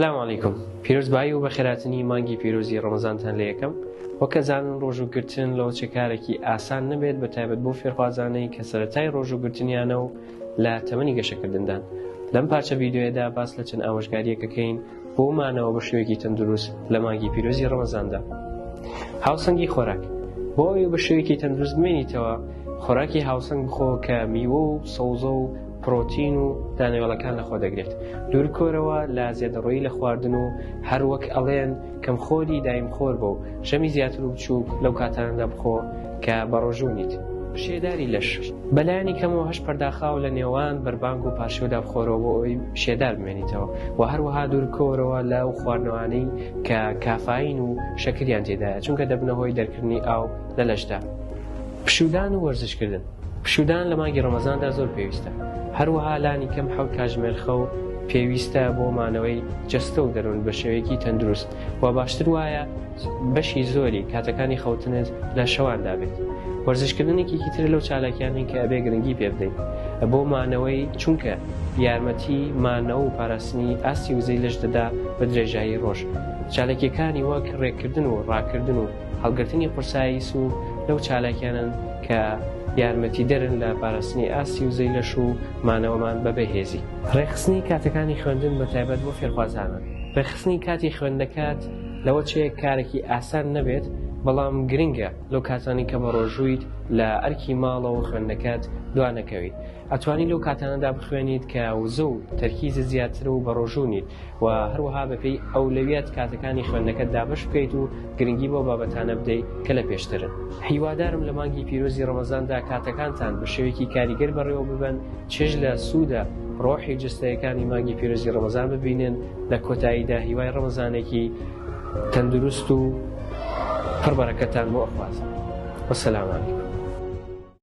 سلام علیکم پیرۆز بایی و بەخێراتنی مانگی پیرۆزی ڕەمەزانتان لە یەکەم وەکە زانن ڕۆژوگرتن لەوە چێکارێکی ئاسان نەبێت بە تایبەت بۆ فێرخوازانەی کە سەتای ڕۆژوگرتنیانە و لە تەمەنی گەشەکردندان لەم پارچە ڤیددیوەدا باس لە چەند ئامۆژگاریەکەکەین بۆ مانەوە بە شوێکی تەندروست لە مانگی پیرۆزی ڕەمەزاندا هاوسەنگی خۆراک بۆ ئەوی بە شوێکی تەندروست بمێنیتەوە خۆراکی هاوسەنگ بخۆ کە میوە و سەوزە و پڕۆتین و دانەوێڵەکان لەخۆ دەگرێت دوورکۆرەوە لا زێدەڕۆیی لە خواردن و هەروەک ئەڵێن کەم خۆری دایم خۆر بۆ و ژەمی زیاتر و بچووک لەو کاتانەدا بخۆ کە بەڕۆژوونیت. شێداری لەش، بەلایەنی کەمەوە هەشت پەرداخە و لە نێوان بەربانگ و پارشێودا بخۆرەوە بۆ ئەوەی شێدار بمێنیتەوە و هەروەها دوورکۆرەوە لەو خواردنەوانەی کە کافایین و شەکریان تێدایە چونکە دەبنە هۆی دەرکردنی ئاو لە لەشدا. پشوودان و وەرزشکردن، پشوودان لە مانگی ڕەمەزاندا زۆر پێویستە، هەروەها لانی کەم حەوت کاتژمێر خەو پێویستە بۆ مانەوەی جەستە و دەروون بە شێوەیەکی تەندروست، وە باشتر وایە بەشی زۆری کاتەکانی خەوتنت لە شەواندا بێت. وەرزشکردن یەکێکی ترە لەو چالاکیانەی کە ئەبێ گرنگی پێ بدەین بۆ مانەوەی چونکە یارمەتی مانەوە و پاراستنی ئاستی وزەی لەش دەدا بە درێژایی ڕۆژ چالاکیەکانی وەک ڕێکردن و ڕاکردن و هەڵگرتنی قورسایی سوو لەو چالاکیانەن کە یارمەتیدەرن لە پاراستنی ئاستی وزەی لەش و مانەوەمان بە بێ هێزی. ڕێکخستنی کاتەکانی خوێندن بە تایبەت بۆ فێرخوازانە. ڕێکخستنی کاتی خوێندنەکەت لەوە چێ کارێکی ئاسان نەبێت، بەڵام گرنگە لەو کاتانەی کە بەڕۆژوویت لە ئەرکی ماڵەوە خوێندنەکەت دوانەکەوی. ئەتوانیت لەو کاتانەدا بخوێنیت کە وزە و تەرکیزت زیاترە و بەڕۆژوو نیت و هەروەها بەپێی ئەولەویەت کاتەکانی خوێندنەکەت دابەش بکەیت و گرنگی بۆ بابەتانە بدەیت کە لە پێشترن هیوادارم لە مانگی پیرۆزی ڕەمەزاندا کاتەکانتان بە شێوەیەکی کاریگەر بەڕێوە ببەن چێژ لە سوودە ڕۆحی جستەیەکانی مانگی پیرۆزی ڕەمەزان ببینن لە کۆتاییدا هیوای ڕەمەزانێکی تەندروست و پڕبەرەکەتان بۆ ئەخوازم وەسەلامانی